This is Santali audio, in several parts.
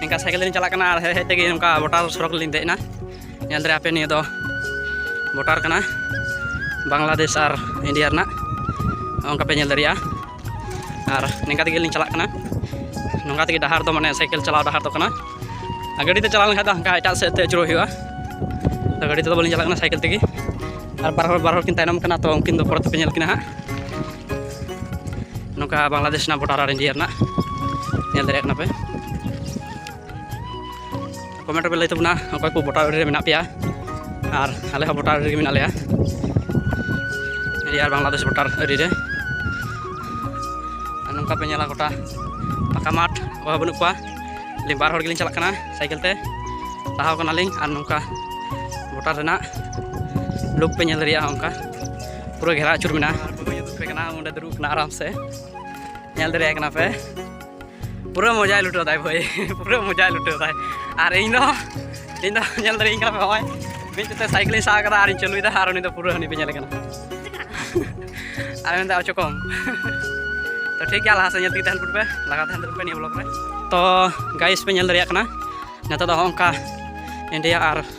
ᱱᱤᱝᱠᱟ ᱥᱟᱭᱠᱮᱞ ᱛᱮᱞᱤᱧ ᱪᱟᱞᱟᱜ ᱠᱟᱱᱟ ᱟᱨ ᱦᱮᱡ ᱦᱮᱡ ᱛᱮᱜᱮ ᱱᱚᱝᱠᱟ ᱵᱚᱴᱟᱨ ᱥᱚᱲᱚᱠ ᱞᱤᱧ ᱫᱮᱡ ᱮᱱᱟ ᱧᱮᱞ ᱫᱟᱲᱮ ᱟᱯᱮ ᱱᱤᱭᱟᱹ ᱫᱚ ᱵᱚᱴᱟᱨ ᱠᱟᱱᱟ ᱵᱟᱝᱞᱟᱫᱮᱥ ᱟᱨ ᱤᱱᱰᱤᱭᱟ ᱨᱮᱱᱟᱜ ᱚᱱᱠᱟ ᱯᱮ ᱧᱮᱞ ᱫᱟᱲᱮᱭᱟᱜᱼᱟ ᱟᱨ ᱱᱤᱝᱠᱟ ᱛᱮᱜᱮ ᱞᱤᱧ ᱪᱟᱞᱟᱜ ᱠᱟᱱᱟ ᱱᱚᱝᱠᱟ ᱛᱮᱜᱮ ᱰᱟᱦᱟᱨ ᱫᱚ ᱢᱟᱱᱮ ᱥᱟᱭᱠᱮᱞ ᱪᱟᱞᱟᱣ ᱰᱟᱦᱟᱨ ᱫᱚ ᱠᱟᱱᱟ ᱟᱨ ᱜᱟᱹᱰᱤ ᱛᱮ ᱪᱟᱞᱟᱣ ᱞᱮᱱᱠᱷᱟᱱ ᱫᱚ ᱦᱟᱱᱠᱟ ᱮᱴᱟᱜ ᱥᱮᱫ ᱛᱮ ᱟᱹᱪᱩᱨᱚᱜ ᱦᱩᱭᱩᱜᱼᱟ ᱛᱚ ᱜᱟᱹᱰᱤ ᱛᱮᱫᱚ ᱵᱟᱹᱞᱤᱧ ᱪᱟᱞᱟᱜ ᱠᱟᱱᱟ ᱥᱟᱭᱠᱮᱞ ᱛᱮᱜᱮ ᱟᱨ ᱵᱟᱨ ᱦᱚᱲ ᱵᱟᱨ ᱦᱚᱲ ᱠᱤᱱ ᱛᱟᱭᱱᱚᱢ ᱠᱟᱱᱟ ᱛᱚ ᱩᱱᱠᱤᱱ ᱫᱚ ᱯᱚᱨᱮ ᱛᱮᱯᱮ ᱧᱮᱞ ᱠᱤᱱᱟ ᱦᱟᱸᱜ ᱱᱚᱝᱠᱟ ᱵᱟᱝᱞᱟᱫᱮᱥ ᱨᱮᱱᱟᱜ ᱵᱚᱰᱟᱨ ᱟᱨ ᱤᱱᱰᱤᱭᱟ ᱨᱮᱱᱟᱜ ᱧᱮᱞ ᱫᱟᱲᱮᱭᱟᱜ ᱠᱟᱱᱟ ᱯᱮ ᱠᱚᱢᱮᱱᱴ ᱨᱮᱯᱮ ᱞᱟᱹᱭ ᱛᱟᱵᱚᱱᱟ ᱚᱠᱚᱭ ᱠᱚ ᱵᱚᱰᱟᱨ ᱨᱮ ᱢᱮᱱᱟᱜ ᱯᱮᱭᱟ ᱟᱨ ᱟᱞᱮ ᱦᱚᱸ ᱵᱚᱰᱟᱨ ᱨᱮᱜᱮ ᱢᱮᱱᱟᱜ ᱞᱮᱭᱟ ᱤᱱᱰᱤᱭᱟ ᱟᱨ ᱵᱟᱝᱞᱟᱫᱮᱥ ᱵᱚᱰᱟᱨ ᱟᱹᱨᱤ ᱨᱮ ᱟᱨ ᱱᱚᱝᱠᱟ ᱯᱮ ᱧᱮᱞᱟ ᱜᱚᱴᱟ ᱯᱟᱠᱟ ᱢᱟᱴᱷ ᱚᱠᱚᱭ ᱦᱚᱸ ᱵᱟᱹᱱᱩᱜ ᱠᱚᱣᱟ ᱟᱹᱞᱤᱧ ᱵᱟᱨ ᱦᱚᱲ ᱜᱮᱞᱤᱧ ᱪᱟᱞᱟᱜ ᱠᱟᱱᱟ ᱥᱟᱭᱠᱮᱞ ᱛᱮ ᱞᱟᱦᱟᱣ ᱠᱟᱱᱟᱞᱤᱧ ᱟᱨ ᱱᱚᱝᱠᱟ ᱵᱚᱰᱟᱨ ᱨᱮᱱᱟᱜ ᱞᱩᱠ ᱯᱮ ᱧᱮᱞ ᱫᱟᱲᱮᱭᱟᱜᱼᱟ ᱚᱱᱠᱟ ᱯᱩᱨᱟᱹ ᱜᱷᱮᱨᱟ ᱟᱹᱪᱩᱨ ᱢᱮᱱᱟᱜᱼᱟ ᱠᱟᱱᱟ ᱚᱸᱰᱮ ᱫᱩᱲᱩᱵ ᱠᱟᱱᱟ ᱟᱨᱟᱢ ᱥᱮ ᱧᱮᱞ ᱫᱟᱲᱮᱭᱟᱜ ᱠᱟᱱᱟ ᱯᱮ ᱯᱩᱨᱟᱹ ᱢᱚᱡᱟᱭ ᱞᱩᱴᱟᱹᱣ ᱫᱟᱭ ᱵᱷᱟᱹᱭ ᱯᱩᱨᱟᱹ ᱢᱚᱡᱟᱭ ᱞᱩᱴᱟᱹᱣ ᱫᱟᱭ ᱟᱨ ᱤᱧ ᱫᱚ ᱤᱧ ᱫᱚ ᱧᱮᱞ ᱫᱟᱲᱮᱭᱟᱹᱧ ᱠᱟᱱᱟ ᱯᱮ ᱱᱚᱜᱼᱚᱭ ᱢᱤᱫ ᱛᱮ ᱥᱟᱭᱠᱮᱞᱤᱧ ᱥᱟᱵ ᱠᱟᱫᱟ ᱟᱨᱤᱧ ᱪᱟᱹᱞᱩᱭᱮᱫᱟ ᱟᱨ ᱩᱱᱤ ᱫᱚ ᱯᱩᱨᱟᱹ ᱦᱟᱹᱱᱤ ᱯᱮ ᱧᱮᱞᱮ ᱠᱟᱱᱟ ᱟᱨ ᱢᱮᱱᱫᱟ ᱚᱪᱚ ᱠᱚᱢ ᱛᱚ ᱴᱷᱤᱠ ᱜᱮᱭᱟ ᱞᱟᱦᱟ ᱥᱮᱫ ᱧᱮᱞ ᱛᱮᱜᱮ ᱛᱟᱦᱮᱱ ᱯᱮ ᱞᱟᱜᱟᱣ ᱛᱟᱦᱮᱱ ᱯᱮ ᱱᱤᱭᱟᱹ ᱵᱞᱚᱜᱽ ᱨᱮ ᱛᱚ ᱜᱟᱭᱤᱥ ᱯᱮ ᱧᱮᱞ ᱫᱟᱲᱮᱭᱟᱜ ᱠᱟᱱᱟ ᱱᱮᱛᱟᱨ ᱫᱚ ᱦᱚᱸᱜᱼᱚ ᱱᱚᱝᱠᱟ ᱤᱱᱰᱤᱭᱟ ᱟᱨ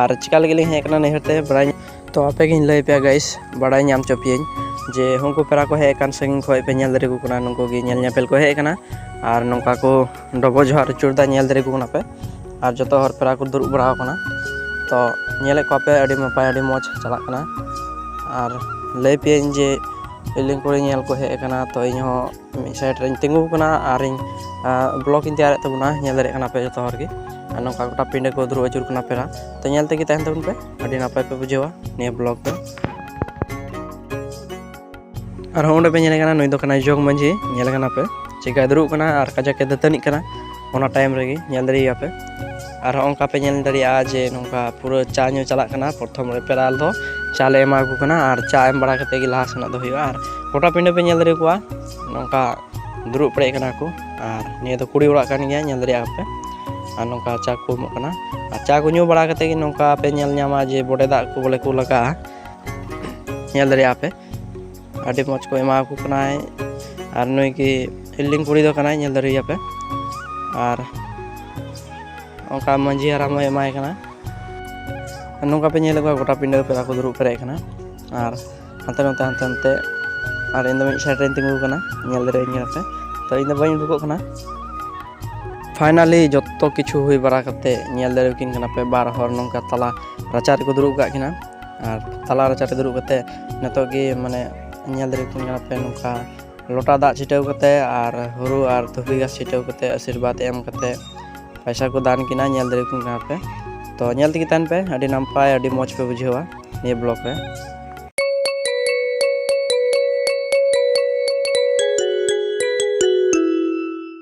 ᱟᱨ ᱪᱤᱠᱟ ᱞᱟᱹᱜᱤᱫ ᱞᱤᱧ ᱦᱮᱡ ᱟᱠᱟᱱᱟ ᱱᱟᱹᱭᱦᱟᱹᱨ ᱛᱮ ᱵᱟᱲᱟᱭ ᱛᱚ ᱟᱯᱮ ᱜᱤᱧ ᱞᱟᱹᱭ ᱯᱮᱭᱟ ᱜᱟᱭᱤᱥ ᱵᱟᱲᱟᱭ ᱧᱟᱢ ᱦᱚᱪᱚ ᱯᱮᱭᱟᱹᱧ ᱡᱮ ᱩᱱᱠᱩ ᱯᱮᱲᱟ ᱠᱚ ᱦᱮᱡ ᱟᱠᱟᱱ ᱥᱟᱺᱜᱤᱧ ᱠᱷᱚᱱ ᱯᱮ ᱧᱮᱞ ᱫᱟᱲᱮ ᱟᱠᱚ ᱠᱟᱱᱟ ᱱᱩᱠᱩ ᱜᱮ ᱧᱮᱞ ᱧᱮᱯᱮᱞ ᱠᱚ ᱦᱮᱡ ᱟᱠᱟᱱᱟ ᱟᱨ ᱱᱚᱝᱠᱟ ᱠᱚ ᱰᱚᱵᱚᱜ ᱡᱚᱦᱟᱨ ᱟᱹᱪᱩᱨᱫᱟ ᱧᱮᱞ ᱫᱟᱲᱮ ᱟᱠᱚ ᱠᱟᱱᱟ ᱯᱮ ᱟᱨ ᱡᱚᱛᱚ ᱦᱚᱲ ᱯᱮᱲᱟ ᱠᱚ ᱫᱩᱲᱩᱵ ᱵᱟᱲᱟ ᱟᱠᱟᱱᱟ ᱛᱚ ᱧᱮᱞᱮᱫ ᱠᱚᱣᱟ ᱯᱮ ᱟᱹᱰᱤ ᱱᱟᱯᱟᱭ ᱟᱹᱰᱤ ᱢᱚᱡᱽ ᱪᱟᱞᱟᱜ ᱠᱟᱱᱟ ᱟᱨ ᱞᱟᱹᱭ ᱯᱮᱭᱟᱹᱧ ᱡᱮ ᱤᱧ ᱠᱚᱨᱮ ᱧᱮᱞ ᱠᱚ ᱦᱮᱡ ᱟᱠᱟᱱᱟ ᱛᱚ ᱤᱧ ᱦᱚᱸ ᱢᱤᱫ ᱥᱟᱭᱤᱰ ᱨᱮᱧ ᱛᱤᱸᱜᱩ ᱟᱠᱟᱱᱟ ᱟᱨᱤᱧ ᱵᱞᱚᱠ ᱤᱧ ᱛᱮᱭᱟᱨᱮᱫ ᱛᱟᱵᱚᱱᱟ ᱧᱮᱞ ᱫᱟᱲᱮᱭᱟᱜ ᱠᱟᱱᱟ ᱯᱮ ᱡᱚᱛᱚ ᱦᱚᱲ ᱜᱮ ᱟᱨ ᱱᱚᱝᱠᱟ ᱜᱚᱴᱟ ᱯᱤᱸᱰᱟᱹ ᱠᱚ ᱫᱩᱲᱩᱵ ᱟᱹᱪᱩᱨ ᱠᱟᱱᱟ ᱯᱮᱲᱟ ᱛᱚ ᱧᱮᱞ ᱛᱮᱜᱮ ᱛᱟᱦᱮᱱ ᱛᱟᱵᱚᱱ ᱯᱮ ᱟᱹᱰᱤ ᱱᱟᱯᱟᱭ ᱯᱮ ᱵᱩᱡᱷᱟᱹᱣᱟ ᱱᱤᱭᱟᱹ ᱵᱞᱚᱠ ᱫᱚ ᱟᱨᱦᱚᱸ ᱚᱸᱰᱮ ᱯᱮ ᱧᱮᱞᱮ ᱠᱟᱱᱟ ᱱᱩᱭ ᱫᱚ ᱠᱟᱱᱟᱭ ᱡᱚᱜᱽ ᱢᱟᱺᱡᱷᱤ ᱧᱮᱞᱮ ᱠᱟᱱᱟ ᱯᱮ ᱪᱮᱠᱟᱭ ᱫᱩᱲᱩᱵ ᱠᱟᱱᱟ ᱟᱨ ᱠᱟᱡᱟᱠᱮ ᱫᱟᱹᱛᱟᱹᱱᱤᱜ ᱠᱟᱱᱟ ᱚᱱᱟ ᱴᱟᱭᱤᱢ ᱨᱮᱜᱮ ᱧᱮᱞ ᱫᱟᱲᱮᱭᱟᱯᱮ ᱟᱨ ᱦᱚᱸ ᱚᱱᱠᱟ ᱯᱮ ᱧᱮᱞ ᱫᱟᱲᱮᱭᱟᱜᱼᱟ ᱡᱮ ᱱᱚᱝᱠᱟ ᱯᱩᱨᱟᱹ ᱪᱟ ᱧᱩ ᱪᱟᱞᱟᱜ ᱠᱟᱱᱟ ᱯᱨᱚᱛᱷᱚᱢ ᱨᱮ ᱯᱮᱨᱟᱞ ᱫᱚ ᱪᱟ ᱞᱮ ᱮᱢᱟ ᱠᱚ ᱠᱟᱱᱟ ᱟᱨ ᱪᱟ ᱮᱢ ᱵᱟᱲᱟ ᱠᱟᱛᱮᱫ ᱜᱮ ᱞᱟᱦᱟ ᱥᱮᱱᱚᱜ ᱫᱚ ᱦᱩᱭᱩᱜᱼᱟ ᱟᱨ ᱜᱚᱴᱟ ᱯᱤᱸᱰᱟᱹ ᱯᱮ ᱧᱮᱞ ᱫᱟᱲᱮ ᱠᱚᱣᱟ ᱱᱚᱝᱠᱟ ᱫᱩᱲᱩᱵ ᱯᱮᱨᱮᱡ ᱠᱟᱱᱟ ᱠᱚ ᱟᱨ ᱱᱤᱭᱟᱹ ᱫᱚ ᱠᱩᱲᱤ ᱚᱲᱟᱜ ᱠᱟᱱ ᱜᱮᱭᱟ ᱧᱮᱞ ᱫᱟᱲᱮᱭᱟᱜᱼᱟ ᱯᱮ ᱟᱨ ᱱᱚᱝᱠᱟ ᱪᱟ ᱠᱚ ᱮᱢᱚᱜ ᱠᱟᱱᱟ ᱟᱨ ᱪᱟ ᱠᱚ ᱧᱩ ᱵᱟᱲᱟ ᱠᱟᱛᱮᱫ ᱜᱮ ᱱᱚᱝᱠᱟ ᱯᱮ ᱧᱮᱞ ᱧᱟᱢᱟ ᱡᱮ ᱵᱚᱰᱮ ᱫᱟᱜ ᱠᱚ ᱵᱚᱞᱮ ᱠᱚ ᱞᱟᱜᱟᱜᱼᱟ ᱧᱮᱞ ᱫᱟᱲᱮᱭᱟᱜᱼᱟ ᱯᱮ ᱟᱹᱰᱤ ᱢᱚᱡᱽ ᱠᱚ ᱮᱢᱟ ᱠᱚ ᱠᱟᱱᱟᱭ ᱟᱨ ᱱᱩᱭ ᱜᱮ ᱯᱷᱤᱞᱰᱤᱝ ᱠᱩᱲᱤ ᱫᱚ ᱠᱟᱱᱟᱭ ᱧᱮᱞ ᱫᱟᱲᱮᱭᱟᱯᱮ ᱟᱨ ᱚᱱᱠᱟ ᱢᱟᱺᱡᱷᱤ ᱦᱟᱲᱟᱢ ᱦᱚᱸᱭ ᱮᱢᱟᱭ ᱠᱟᱱᱟ ᱱᱚᱝᱠᱟ ᱯᱮ ᱧᱮᱞᱮᱫ ᱠᱚᱣᱟ ᱜᱚᱴᱟ ᱯᱤᱸᱰᱟᱹ ᱯᱮᱲᱟ ᱠᱚ ᱫᱩᱲᱩᱵ ᱯᱮᱨᱮᱡ ᱠᱟᱱᱟ ᱟᱨ ᱦᱟᱱᱛᱮ ᱱᱚᱛᱮ ᱦᱟᱱᱛᱮ ᱱᱚᱛᱮ ᱟᱨ ᱤᱧ ᱫᱚ ᱢᱤᱫ ᱥᱟᱭᱤᱰ ᱨᱮᱧ ᱛᱤᱸᱜᱩ ᱠᱟᱱᱟ ᱧᱮᱞ ᱫᱟᱲᱮᱭᱟᱹᱧ ᱠᱟᱱᱟ ᱯᱮ ᱛᱚ ᱤᱧ ᱫᱚ ᱵᱟᱹᱧ ᱩᱰᱩᱠᱚᱜ ᱠᱟᱱᱟ ᱯᱷᱟᱭᱱᱟᱞᱤ ᱡᱚᱛᱚ ᱠᱤᱪᱷᱩ ᱦᱩᱭ ᱵᱟᱲᱟ ᱠᱟᱛᱮᱫ ᱧᱮᱞ ᱫᱟᱲᱮᱭᱟᱠᱤᱱ ᱠᱟᱱᱟ ᱯᱮ ᱵᱟᱨ ᱦᱚᱲ ᱱᱚᱝᱠᱟ ᱛᱟᱞᱟ ᱨᱟᱪᱟ ᱨᱮᱠᱚ ᱫᱩᱲᱩᱵ ᱟᱠᱟᱫ ᱠᱤᱱᱟ ᱟᱨ ᱛᱟᱞᱟ ᱨᱟᱪᱟ ᱨᱮ ᱫᱩᱲᱩᱵ ᱠᱟᱛᱮ ᱱᱤᱛᱚᱜ ᱜᱮ ᱢᱟᱱᱮ ᱧᱮᱞ ᱫᱟᱲᱮ ᱟᱠᱚ ᱠᱟᱱᱟ ᱯᱮ ᱱᱚᱝᱠᱟ ᱞᱚᱴᱟ ᱫᱟᱜ ᱪᱷᱤᱴᱟᱹᱣ ᱠᱟᱛᱮ ᱟᱨ ᱦᱩᱲᱩ ᱟᱨ ᱫᱷᱩᱵᱤ ᱜᱷᱟᱥ ᱪᱷᱤᱴᱟᱹᱣ ᱠᱟᱛᱮ ᱟᱥᱤᱨᱵᱟᱫᱽ ᱮᱢ ᱠᱟᱛᱮ ᱯᱚᱭᱥᱟ ᱠᱚ ᱫᱟᱱ ᱠᱤᱱᱟ ᱧᱮᱞ ᱫᱟᱲᱮ ᱟᱠᱚ ᱠᱟᱱᱟ ᱯᱮ ᱛᱚ ᱧᱮᱞ ᱛᱮᱜᱮ ᱛᱟᱦᱮᱱ ᱯᱮ ᱟᱹᱰᱤ ᱱᱟᱯᱟᱭ ᱟᱹᱰᱤ ᱢᱚᱡᱽ ᱯᱮ ᱵᱩᱡᱷᱟᱹᱣᱟ ᱱᱤᱭᱟᱹ ᱵᱞᱚᱜᱽ ᱨᱮ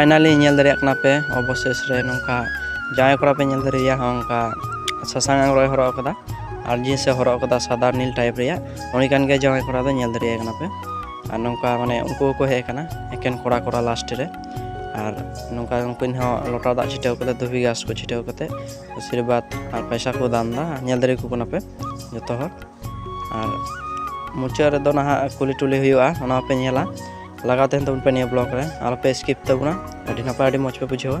ᱯᱷᱟᱭᱱᱟᱞᱤ ᱧᱮᱞ ᱫᱟᱲᱮᱭᱟᱜ ᱠᱟᱱᱟ ᱯᱮ ᱚᱵᱚᱥᱮᱥ ᱨᱮ ᱱᱚᱝᱠᱟ ᱡᱟᱶᱟᱭ ᱠᱚᱲᱟ ᱯᱮ ᱧᱮᱞ ᱫᱟᱲᱮᱭᱟ ᱦᱚᱸ ᱚᱱᱠᱟ ᱥᱟᱥᱟᱝ ᱟᱝᱨᱚᱭ ᱦᱚᱨᱚᱜ ᱟᱠᱟᱫᱟ ᱟᱨ ᱡᱤᱱᱥ ᱮ ᱦᱚᱨᱚᱜ ᱟᱠᱟᱫᱟ ᱥᱟᱫᱟ ᱱᱤᱞ ᱴᱟᱭᱤᱯ ᱨᱮᱭᱟᱜ ᱩᱱᱤ ᱠᱟᱱ ᱜᱮᱭᱟ ᱡᱟᱶᱟᱭ ᱠᱚᱲᱟ ᱫᱚ ᱧᱮᱞ ᱫᱟᱲᱮᱭᱟᱭ ᱠᱟᱱᱟ ᱯᱮ ᱟᱨ ᱱᱚᱝᱠᱟ ᱢᱟᱱᱮ ᱩᱱᱠᱩ ᱦᱚᱸᱠᱚ ᱦᱮᱡ ᱟᱠᱟᱱᱟ ᱮᱠᱮᱱ ᱠᱚᱲᱟ ᱠᱚᱲᱟ ᱞᱟᱥᱴ ᱨᱮ ᱟᱨ ᱱᱚᱝᱠᱟ ᱩᱱᱠᱤᱱ ᱦᱚᱸ ᱞᱚᱴᱟ ᱫᱟᱜ ᱪᱷᱤᱴᱟᱹᱣ ᱠᱟᱛᱮ ᱫᱷᱩᱵᱤ ᱜᱷᱟᱥ ᱠᱚ ᱪᱷᱤᱴᱟᱹᱣ ᱠᱟᱛᱮ ᱟᱥᱤᱨᱵᱟᱫᱽ ᱟᱨ ᱯᱚᱭᱥᱟ ᱠᱚ ᱫᱟᱱ ᱮᱫᱟ ᱧᱮᱞ ᱫᱟᱲᱮ ᱟᱠᱚ ᱠᱟᱱᱟ ᱯᱮ ᱡᱚᱛᱚ ᱦᱚᱲ ᱟᱨ ᱢᱩᱪᱟᱹᱫ ᱨᱮᱫᱚ ᱱᱟᱦᱟᱜ ᱠᱩᱞᱤ ᱴᱩᱞᱤ ᱦᱩᱭᱩᱜᱼᱟ ᱚᱱᱟ ᱦᱚᱸᱯᱮ ᱧᱮᱞᱟ ᱞᱟᱜᱟᱣ ᱛᱟᱦᱮᱱ ᱛᱟᱵᱚᱱ ᱯᱮ ᱱᱤᱭᱟᱹ ᱵᱞᱚᱜᱽ ᱨᱮ ᱟᱞᱚᱯᱮ ᱥᱠᱤᱯ ᱛᱟᱵᱚᱱᱟ ᱟᱹᱰᱤ ᱱᱟᱯᱟᱭ ᱟᱹᱰᱤ ᱢᱚᱡᱽ ᱯᱮ ᱵᱩᱡᱷᱟᱹᱣᱟ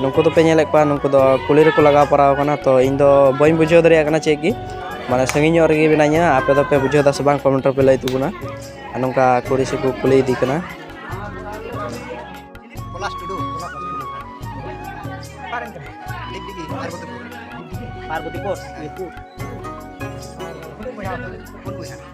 ᱱᱩᱠᱩ ᱫᱚᱯᱮ ᱧᱮᱞᱮᱫ ᱠᱚᱣᱟ ᱱᱩᱠᱩ ᱫᱚ ᱠᱩᱞᱦᱤ ᱨᱮᱠᱚ ᱞᱟᱜᱟᱣ ᱯᱟᱨᱟᱣ ᱠᱟᱱᱟ ᱛᱚ ᱤᱧ ᱫᱚ ᱵᱟᱹᱧ ᱵᱩᱡᱷᱟᱹᱣ ᱫᱟᱲᱮᱭᱟᱜ ᱠᱟᱱᱟ ᱪᱮᱫ ᱜᱮ ᱢᱟᱱᱮ ᱥᱟᱺᱜᱤᱧ ᱧᱚᱜ ᱨᱮᱜᱮ ᱢᱤᱱᱟᱹᱧᱟ ᱟᱯᱮ ᱫᱚᱯᱮ ᱵᱩᱡᱷᱟᱹᱣ ᱫᱟᱥᱮ ᱵᱟᱝ ᱠᱚᱢᱮᱱᱴ ᱨᱮᱯᱮ ᱞᱟᱹᱭ ᱛᱟᱵᱚᱱᱟ ᱟᱨ ᱱᱚᱝᱠᱟ ᱠᱩᱲᱤ ᱥᱮ ᱠᱚ ᱠᱩᱞᱤ ᱤᱫᱤ ᱠᱟᱱᱟ ᱯᱚᱞᱟᱥ ᱴᱩᱰᱩ ᱯᱚᱞᱟᱥ ᱴᱩᱰᱩ ᱚᱠᱟᱨᱮᱱ ᱠᱟᱱᱟᱭ ᱰᱤᱜᱽᱰᱤᱜᱤ ᱯᱟᱨᱵᱚᱛᱤᱯᱩᱨ ᱯᱟᱨᱵᱚᱛᱤᱯᱩᱨ ᱤᱭᱟᱹ ᱯᱩᱨ ᱯᱩᱱ ᱵᱚᱭᱦᱟ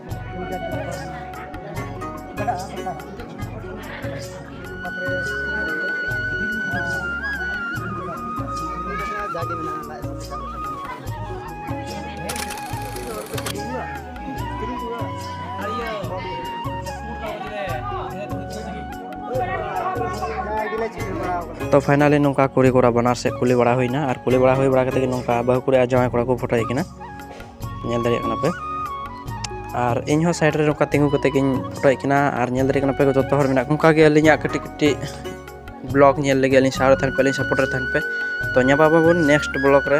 ᱛᱚ ᱯᱷᱟᱭᱱᱟᱞᱤ ᱱᱚᱝᱠᱟ ᱠᱩᱲᱤ ᱠᱚᱲᱟ ᱵᱟᱱᱟᱨ ᱥᱮᱫ ᱠᱩᱞᱤ ᱵᱟᱲᱟ ᱦᱩᱭᱱᱟ ᱟᱨ ᱠᱩᱞᱤ ᱵᱟᱲᱟ ᱦᱩᱭ ᱵᱟᱲᱟ ᱠᱟᱛᱮᱫ ᱜᱮ ᱱᱚᱝᱠᱟ ᱵᱟᱹᱦᱩ ᱠᱩᱲᱤ ᱟᱨ ᱡᱟᱶᱟᱭ ᱠᱚᱲᱟ ᱠᱚ ᱯᱷᱳᱴᱳᱭᱮᱫ ᱠᱤᱱᱟ ᱧᱮᱞ ᱫᱟᱲᱮᱭᱟᱜ ᱠᱟᱱᱟ ᱯᱮ ᱟᱨ ᱤᱧ ᱦᱚᱸ ᱥᱟᱭᱤᱰ ᱨᱮ ᱱᱚᱝᱠᱟ ᱛᱤᱸᱜᱩ ᱠᱟᱛᱮ ᱜᱤᱧ ᱯᱷᱳᱴᱳᱭᱮᱫ ᱠᱤᱱᱟ ᱟᱨ ᱧᱮᱞ ᱫᱟᱲᱮᱭᱟᱜ ᱠᱟᱱᱟ ᱯᱮ ᱡᱚᱛᱚ ᱦᱚᱲ ᱢᱮᱱᱟᱜ ᱠᱚ ᱚᱱᱠᱟ ᱜᱮ ᱟᱹᱞᱤᱧᱟᱜ ᱠᱟᱹᱴᱤᱡ ᱠᱟᱹᱴᱤᱡ ᱵᱞᱚᱜ ᱧᱮᱞ ᱞᱟᱹᱜᱤᱫ ᱟᱹᱞᱤᱧ ᱥᱟᱶ ᱨᱮ ᱛᱟᱦᱮᱱ ᱯᱮ ᱟᱹᱞᱤᱧ ᱥᱟᱯᱳᱨᱴ ᱨᱮ ᱛᱟᱦᱮᱱ ᱯᱮ ᱛᱚ ᱧᱟᱯᱟᱢ ᱟᱵᱚᱱ ᱱᱮᱠᱥᱴ ᱵᱞᱚᱜ ᱨᱮ